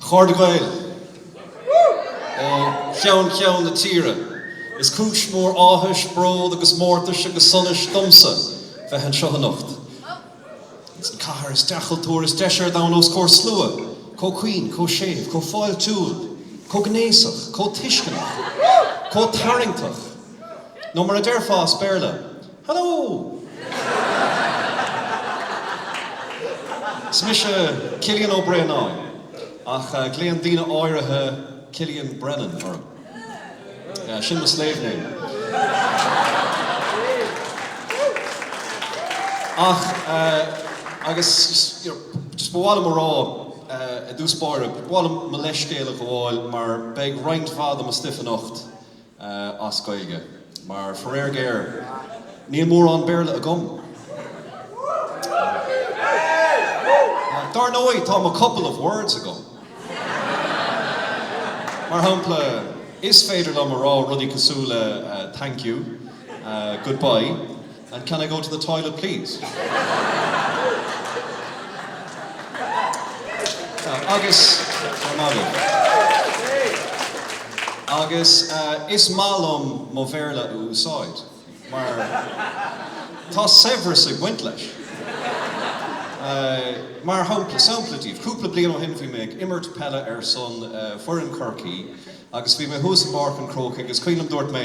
Chairde Gael ó cheann ceann na tíre. Is cúis mhór áthais, bród agus mórtais agus sonais domsa bheith anseo anocht. Sa chathair is cultúrtha, is deise ar domhan os comhair slua, chomh caoin, chomh séimh, chomh fáiltiúil, chomh gnéasach, chomh tuisceanach, chomh tarraingteach, nó mar a déarfá as Béarla, Hello! Is mise Cillian Ó Braonáin, ach glaonn daoine áirithe Cillian Brennan orm. Yeah, sin mo slave name. Ach, agus, you know, just ba mhaith liom a rá, i dtús báire, ba mhaith liom mo leithscéal a ghabháil mar beidh roinnt mhaith de mo stuif anocht, as Gaeilge, mar faraor géar níl mórán Béarla agam. Dar ndóigh, tá mo couple of words agam. Mar shampla, is féidir liom a rá rudaí cosúil le thank you, goodbye. And can I go to the toilet please? Agus, is maith liom. Agus is maith liom mo Bhéarla a úsáid, mar tá saibhreas ag baint leis. Mar shampla, sampla daoibh, cúpla bliain ó shin bhí mé ag imirt peile ar son foireann Chorcaí agus bhí mé thuas i bPáirc an Chrócaigh agus is cuimhin liom dúirt mé,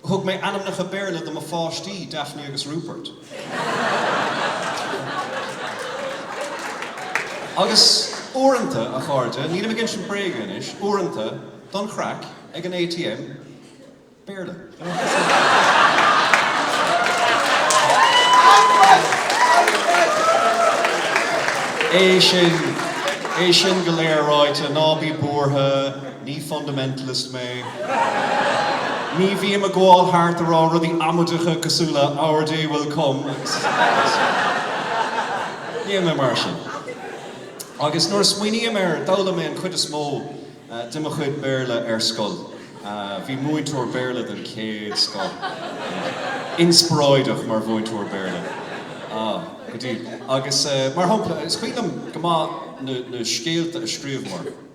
Thug mé ainmneacha Béarla do mo pháistí, Daphne agus Rupert. Agus uaireanta, a chairde, nílim ag insint bréaga anois, uaireanta, don chraic, ag an ATM, Béarla. É sin, é sin go léir ráite, ná bí buartha. Ní fundamentalist mé. Ní bhím ag gabháil thart a rá rudaí amaideacha cosúil le Our day will come agus níl mé mar sin. Agus nuair a smaoiním air, d'fhoghlaim mé an chuid is mó de mo chuid Béarla ar scoil. Bhí múinteoir Béarla den chéad scoth ann. Inspioráideach mar mhúinteoir Béarla. Ah, go dtí. Agus mar shampla, is cuimhin liom go maith na scéalta a scríobhamar.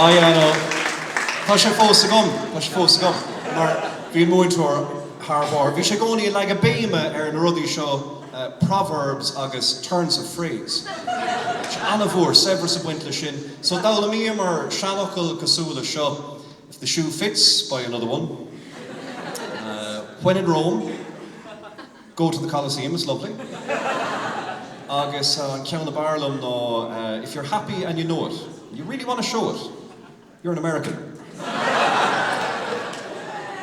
I know, tá sé fós agam, tá sé fós agam, mar bhí an múinteoir thar barr. Bhí sé i gcónaí ag leagadh béime ar na rudaí seo, proverbs agus turns of phrase. Bhí sé an-mhór, saibhreas ag baint leis sin. So d'fhoghlaimíomar seanfhocail cosúil leis seo, if the shoe fits, buy another one, when in Rome, Go to the Coliseum, it's lovely. Agus an ceann ab fhearr liom ná If you're happy and you know it, you really want to show it, you're an American.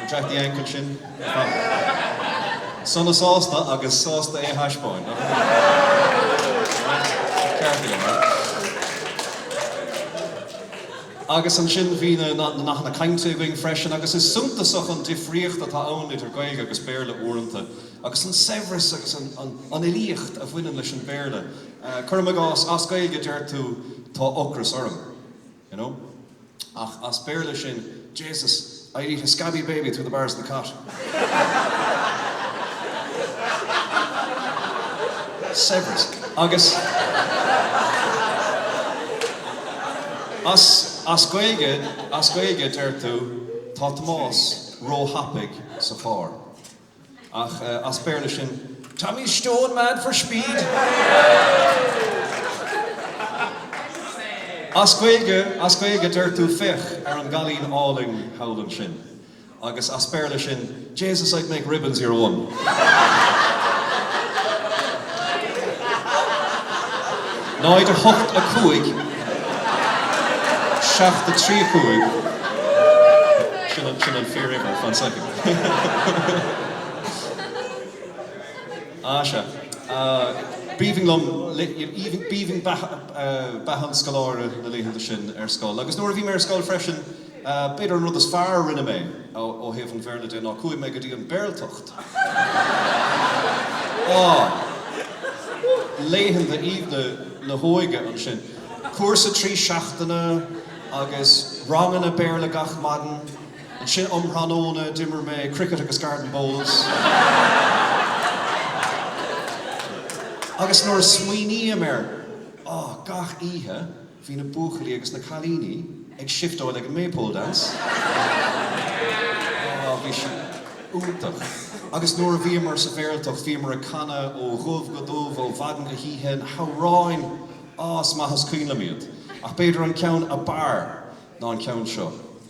An Jack the Yank ansin? Sona sásta agus sásta é a thaispeáint, nach ea? Ceart aige, mar. Agus ansin bhí na nathanna cainte againn freisin agus is suntasach an difríocht atá ann idir Gaeilge agus Béarla uaireanta agus an saibhreas agus an fhilíocht a bhaineann leis an Bhéarla. Cuirim i gcás, as Gaeilge deir tú tá ocras orm, you know, ach as Béarla sin, Jesus, I'd eat a scabby baby through the bars of the cot. Saibhreas. Agus as Gaeilge, as Gaeilge, deir tú, Tá Tomás róthapaidh sa charr. Ach as Béarla sin Tommy's stone mad for speed! As Gaeilge, as Gaeilge deir tú Féach ar an gcailín álainn thall ansin. Agus as Béarla sin Jesus I'd make ribbons of your one! Náid a hocht a cúig seacht a trí a cúig Sin an fíor uimhir, fan soicind. Ah, sea. B'aoibhinn liom, b'aoibhinn beatha an scoláire na laethanta sin ar scoil. Agus nuair a bhí mé ar scoil freisin, b'fhéidir an rud is fearr a rinne mé ó thaobh an Bhéarla de ná chuaigh mé go dtí an Bhéarltacht. Ah, laethanta aoibhne na hóige ansin. Cúrsa trí seachtaine agus ranganna Béarla gach maidin. Ansin um thráthnóna d'imir mé cricket agus garden bowls. Agus nuair a smaoiním air, oh, gach oíche bhí na buachaillí agus na cailíní ag siftóil ag an Maypole Dance. Oh, bhí sí iontach. Agus nuair a bhíomar sa Bhéarltacht, bhíomar ag canadh ó dhubh go dubh, ó mhaidin go hoíche, na hamhráin! Oh, is maith is cuimhin liom iad. Ach b'fhéidir an ceann ab fhearr ná an ceann seo.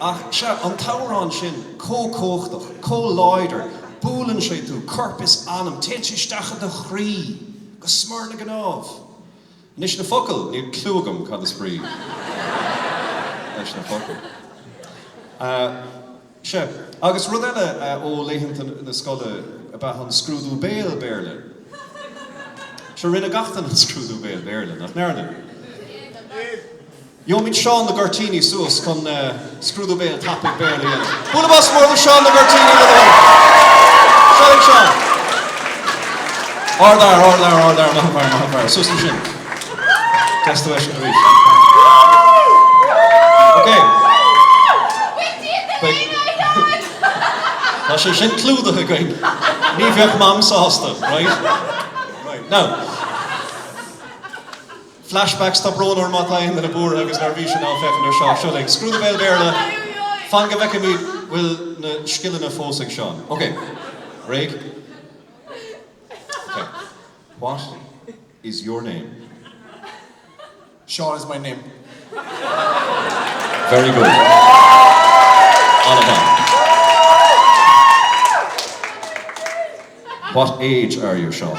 Ach, sea, an t-amhrán sin, chomh cumhachtach, chomh láidir, buaileann sé tú, corp is anam, téann sé isteach i do chroí, go smior na gcnámh. Anois, na focail, níl cliú agam cad is brí leis na focail. Sea, agus rud eile, ó laethanta na scoile ab ea an scrúdú béil Béarla. Sea, rinne gach duine an scrúdú béil Béarla, nach ndearna? Gheobhaimid Seán na gCuirtíní suas chun scrúdú béil tapaidh Béarla a dhéanamh. Bualadh bos mór do Sheán na gCuirtíní, le do thoil. Seo linn Seán. Ard fhear, ard fhear, ard fhear, maith an fear, maith an fear. Suas ansin. Deas tú a fheiscint arís. Ok. Tá sé sin clúdaithe againn. Ní bheadh Mam sásta, right? Right. Now. Flashback, Tá brón orm má tá aon duine buartha agus neirbhíseach ag féachaint ar Seán. Seo linn. Scrúdú béil Béarla. Fan go bhfeicimid bhfuil na scileanna fós ag Seán. Ok. Réidh? Ok. What is your name? Seán is my name. Very good. An-mhaith. What age are you, Seán?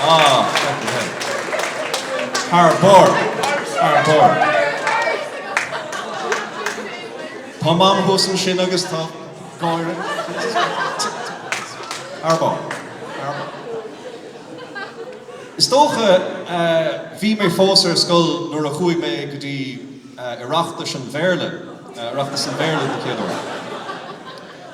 Ah, fucking hell. Thar barr. Thar barr. Tá mam thuas ansin agus í ag gáire. Thar barr. Thar barr. Is dócha eh, bhí mé fós ar scoil nuair a chuaigh mé go dtí eh, Oireachtas an Bhéarla, eh, Oireachtas an Bhéarla don chéad uair.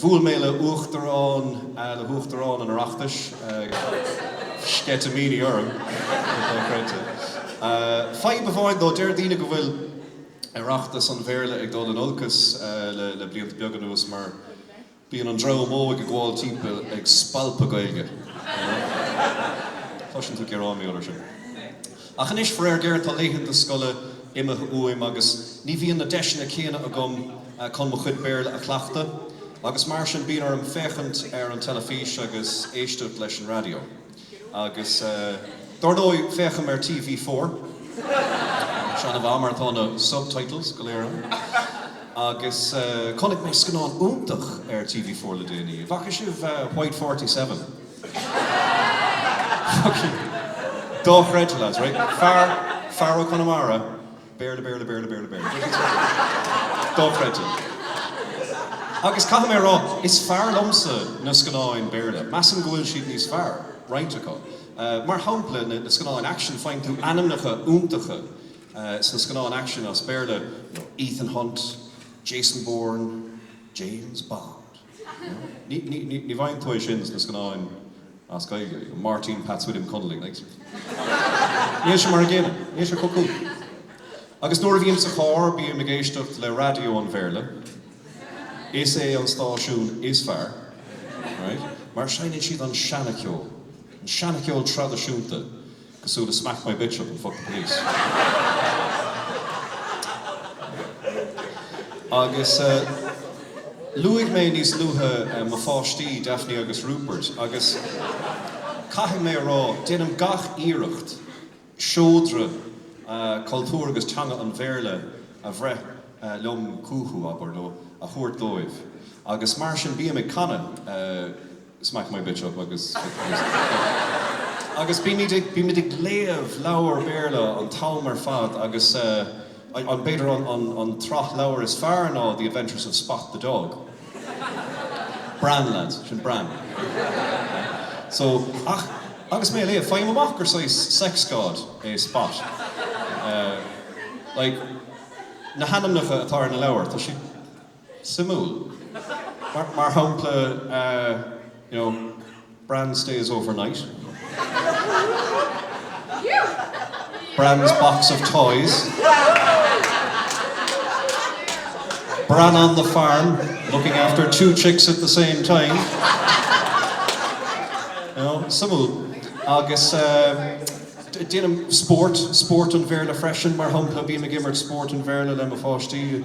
Bhuail mé le Uachtarán, le hUachtarán an Oireachtais, sceitimíní orm, go dochreidte. Fadhb amháin though, deir daoine go bhfuil Oireachtas an Bhéarla ag dul in olcas le blianta beaga anuas mar bíonn an dream óg ag gabháil timpeall ag spalpadh Gaeilge. Cloiseann tú gearáin faoi go léir sin. Ach anois, faraor géar, tá laethanta scoile imithe uaim agus ní bhíonn na deiseanna céanna agam chun mo chuid Béarla a chleachtadh agus mar sin bíonn orm féachaint ar an teilifís agus éisteacht leis an raidió agus dar ndóigh, féachaim ar TV Four, sea, ar fheabhas, mar tá na subtitles go léir ann agus chonaic mé scannán iontach ar TV Four le déanaí, an bhfaca sibh White Forty-Seven? Fucking dochreidte, lads, right? Fear, fear ó Chonamara, Béarla, Béarla, Béarla, Béarla, Béarla. Dochreidte. Agus caithfidh mé a rá, is fearr liomsa na scannáin Béarla. Measaim go bhfuil siad níos fearr, roinnt acu. Mar shampla, na scannáin aicsin, faigheann tú ainmneacha iontacha sna scannáin aicsin as Béarla, you know, Ethan Hunt, Jason Bourne, James Bond. Ní bhfaigheann tú é sin sna scannáin as Gaeilge, you know, Máirtín Pheaits William Connolly, like. Níl sé mar an gcéanna. Níl sé chomh cool. Agus nuair a bhím sa charr, bím ag éisteacht le raidió an Bhéarla. Is é an stáisiún is fearr, right, mar seinneann siad an seana-cheol, an seana-cheol traidisiúnta. cosúil le smack my bitch up and fuck the police. Agus luaigh mé níos luaithe mo pháistí, Daphne agus Rupert, agus caithfidh mé a rá, déanaim gach iarracht seodra cultúir agus teanga an Bhéarla a bhreith liom chucu, abair, nó a thabhairt dóibh, agus mar sin bím ag canadh. smack my bitch up agus agus bímid ag bímid ag léamh leabhar Béarla an t-am ar fad agus eh an b'fhéidir an an an tsraith leabhar is fearr ná The Adventures of Spot the Dog. Bran lads, sin Bran. So ach agus mé a léamh faighim amach gur saghas sex god é Spot. Eh like na hainmneacha atá ar na leabhair tá siad Suimiúil. Mar shampla, you know, Bran stays overnight, Bran's box of toys, Bran on the farm, looking after two chicks at the same time, you know, suimiúil. Agus déanaim spórt, spórt an Bhéarla freisin, mar shampla, bím ag imirt spórt an Bhéarla le mo pháistí.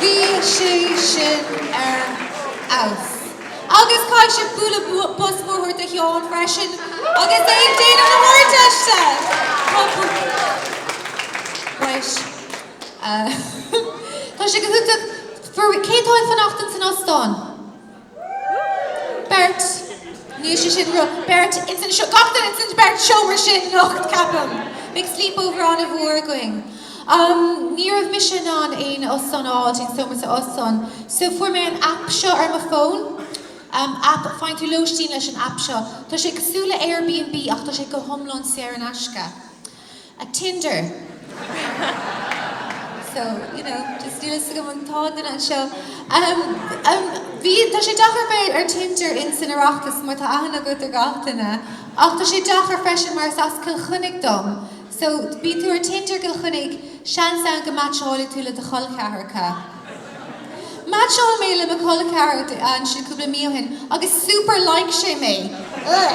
Bhí sé sin ar fheabhas. Agus caithfidh sibh bualadh bos mhór do Sheán freisin agus é ag déanamh na hArdteiste! Right. Tá sé go hiontach. Cé atá ag fanacht ins an óstán? Beirt, níl sé sin rud. Beirt, ins an seo, gach duine ins an beirt seomra sin nocht, ceapaim. Bheadh sleepover an-mhór againn. Ní raibh mise in ann aon óstán a fháil dtí'n seomra sa óstán, so fuair mé an app seo ar mo fón. App, faigheann tú lóistín leis an app seo. Tá sé cosúil le Airbnb ach tá sé go hiomlán saor in aisce. Tinder. So, you know, just níl a fhios agam an t-ádh duine anseo. Bhí, tá sé deacair bheith ar Tinder ins an Oireachtas mar tá aithne agat ar gach duine. Ach tá sé deacair freisin mar is as Cill Chainnigh dom. So, bhí tú ar Tinder Cill Chainnigh, seans ann go meaitseálfá tú le do chol ceathracha. Meaitseáil mé le mo col ceathracha ansin cúpla mí ó shin agus super like sé mé. Ugh!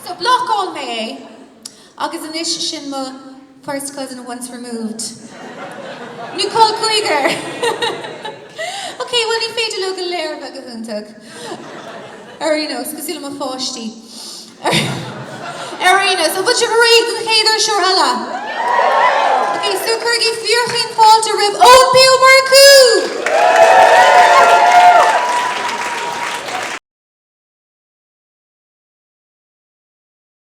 So, blocáil mé é. Agus anois sin mo first cousin once removed. Nó col cuigear! Ok, bhuel ní féidir leo go léir a bheith go hiontach. Ar aon nós, cosúil le mo pháistí. Ar aon nós, an bhfuil sibh réidh don chéad fhuirseoir eile? Ok, so cuirigí fíorchaoin fáilte roimh Eoin P. Ó Murchú!